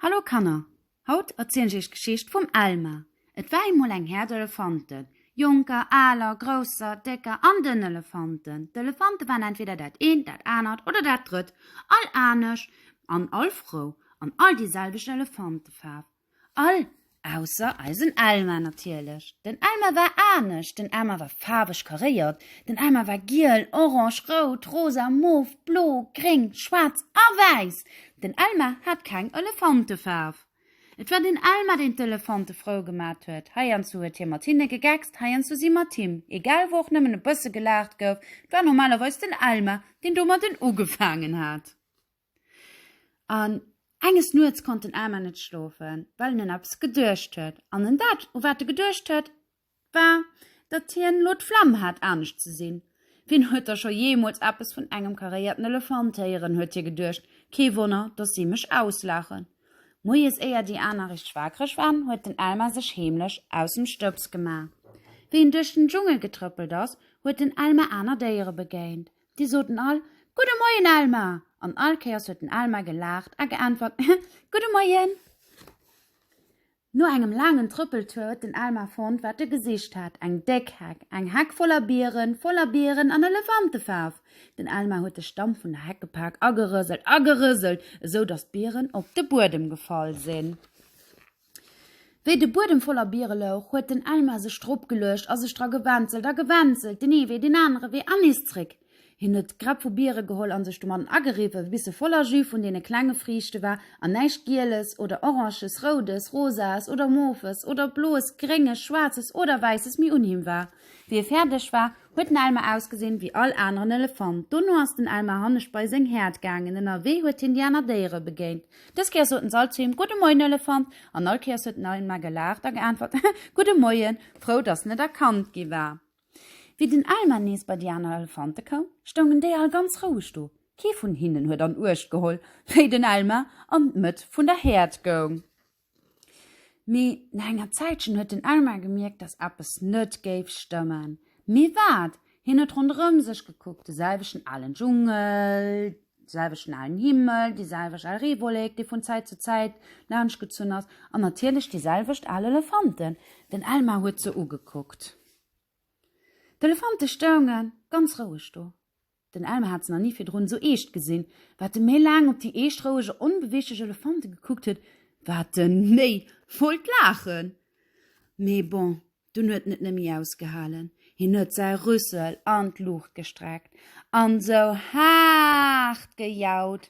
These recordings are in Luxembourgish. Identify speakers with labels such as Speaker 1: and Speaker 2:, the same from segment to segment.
Speaker 1: Hallo Kanner, haut erzielen ech iech d'Geschicht vum Elma. Et war eemol eng Herd Elefanten, jonker, aler, grousser, décker an dënn Elefanten. D'Elefante waren entweder dat eent, dat anert oder dat drëtt, all anesch an all frou, an all déi selwecht Elefantefaarf. All Ausser eisen Elmar natierlech. Den Elmar war anescht, den Elmar war faarweg karéiert, den Elmar war giel, orange, rout, rosa, mof, blo, gréng, schwaarz a wäiss. Den Elmar hat keng Elefantefaarf. Et war den Elmar deen d'Elefante frou gemat huet. Heiansdo huet hie mat hinne gegeckst, heiansdo si mat him, egal wou och nëmmen e bësse gelaacht gouf, et war normalerweis den Elmar deen domadden ugefaangen hat. An enges Nuets konnt den Aarmer net schlofen, well en un eppes geduecht huet. An en dat, u wat e geduecht huet, war, datt hien elo d'Flemm hat, anescht ze sinn. Wien huet da scho jeemools eppes vun engem karéierten Elefant héieren, huet hie geduecht, kee Wonner, datt si mech auslaachen. Moies, éier déi aner richteg waakreg waren, huet den Elmar sech heemlech aus dem Stëbs gemaach. Wéi en duerch den Dschungel getrëppelt ass, huet den Elmar aner Déiere begéint. Déi soten all, Gudde Moien, Alma! An all Kéiers huet den Alma gelaacht a geäntwert, Gudde Moien! No engem laangen Trëppeltour huet den Alma fonnt, wat e gesicht hat, eng déck Heck. Eng Heck voller Bieren, voller Bieren an Elefantefaarf! Den Alma huet de Stamm vun der Heck gepak a gerëselt a gerëselt, esou datt d'Bieren op de Buedem gefall sinn. Wéi de Buedem voller Biere louch, huet den Elmar sech drop geluecht a sech dra gewänzelt a gewänzelt, den ee Wee, den anere Wee an nees zréck. Hien huet d'Grapp vu Biere geholl a sech domatten ageriwwe bis se voller Jus vun deene klenge Friichte war an näischt Gieles oder Oranges, Roudes, Rosaes oder Mauves oder Bloes, Grénges, Schwaarzes oder Wäisses méi un him war. Wéi e fäerdeg war, huet den Elmar ausgesinn wéi all aneren Elefant. Dono ass den Elmar hannescht bei seng Häerd gaangen. Ënnerwee huet hien déi aner Déiere begéint. Dës Kéiers soten s'all zu him, Gudde Moien, Elefant! An all Kéiers huet en Elmar gelaacht a geäntwert, He, gudde Moien! frou, datt en net erkannt gi war. Wéi den Elmar nees bei déi aner Elefante koum, stoungen déi all ganz roueg do. Kee vun hinnen huet an Uecht geholl, wéi den Elmar an d'Mëtt vun der Häerd goung. Mee no enger Zäitchen huet den Elmar gemierkt, dass eppes net géif stëmmen. Mee wat? Hien huet ronderëm sech gekuckt, de selwechten alen Dschungel, de selwechten alen Himmel, déi selwecht al Reewollek, déi vun Zäit zu Zäit laanschtgezunn ass, an natierlech déi selwecht al Elefanten. Den Elmar huet se ugekuckt. D'Elefante stounge ganz roueg do. Den Elmer hat se nach ni virdrun esou eescht gesinn. Wat en méi laang op déi eescht, roueg a onbeweeglech Elefante gekuckt huet, wat en méi wollt laachen. Mee bon, dunn huet en et neméi ausgehalen, hien huet säi Rüssel an d'Luucht gestreckt an esou haart gejaut,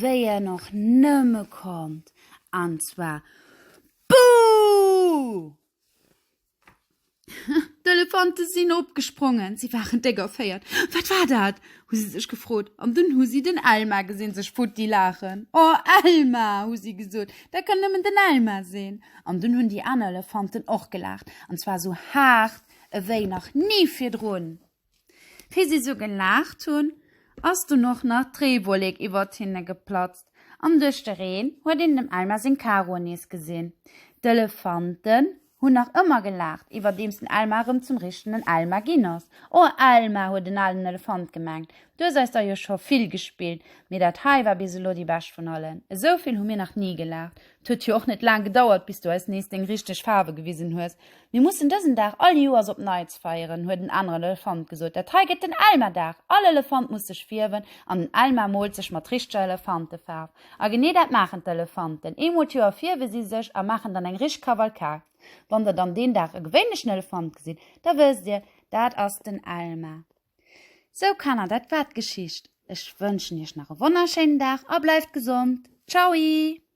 Speaker 1: wéi en och nëmme konnt, an zwar Buh! D'Elefante sinn opgesprongen. Si waren déck erféiert. Wat war dat? hu si sech gefrot. An dunn hu si den Elmar gesinn sech futti laachen. O Elmar! hu si gesot. Dat kann nëmmen den Elmar sinn. An dunn hunn déi aner Elefanten och gelaacht. An zwar esou haart ewéi nach ni virdrun. Wéi si sou gelaacht hunn, ass dunn och nach d'Reewollek iwwert hinne geplatzt an duerch de Reen huet een dem Elmar seng Karo nees gesinn. D'Elefanten hunn nach ëmmer gelaacht, iwwerdeems den Elmar erëm zum richtenen Elmar ginn ass. O Elmar, huet en alen Elefant gemengt, du hues eis der jo scho vill gespillt, mee dat hei war bis elo déi bescht vun allen. Esou vill hu mir nach ni gelaacht. T'huet jo och net laang gedauert, bis du eis nees deng richteg Faarwe gewisen hues. Mir mussen dësen Dag all Joers op Neits feieren, huet en aneren Elefant gesot. Dat hei gëtt den Elmerdag! All Elefant muss sech fierwen an den Elmer moolt sech mat richteger Elefantefaarf. A genee dat maachen d'Elefanten. Eemol d'Joer fierwe si sech a maachen dann eng richteg Kavalkad. Wann der dann deen Dag e gewéinlechen Elefant gesitt, da wësst dir, dat ass den Elmer. Sou, Kanner, dat war d'Geschicht. Ech wënschen iech nach e wonnerschéinen Dag a bleift gesond. Tschaui!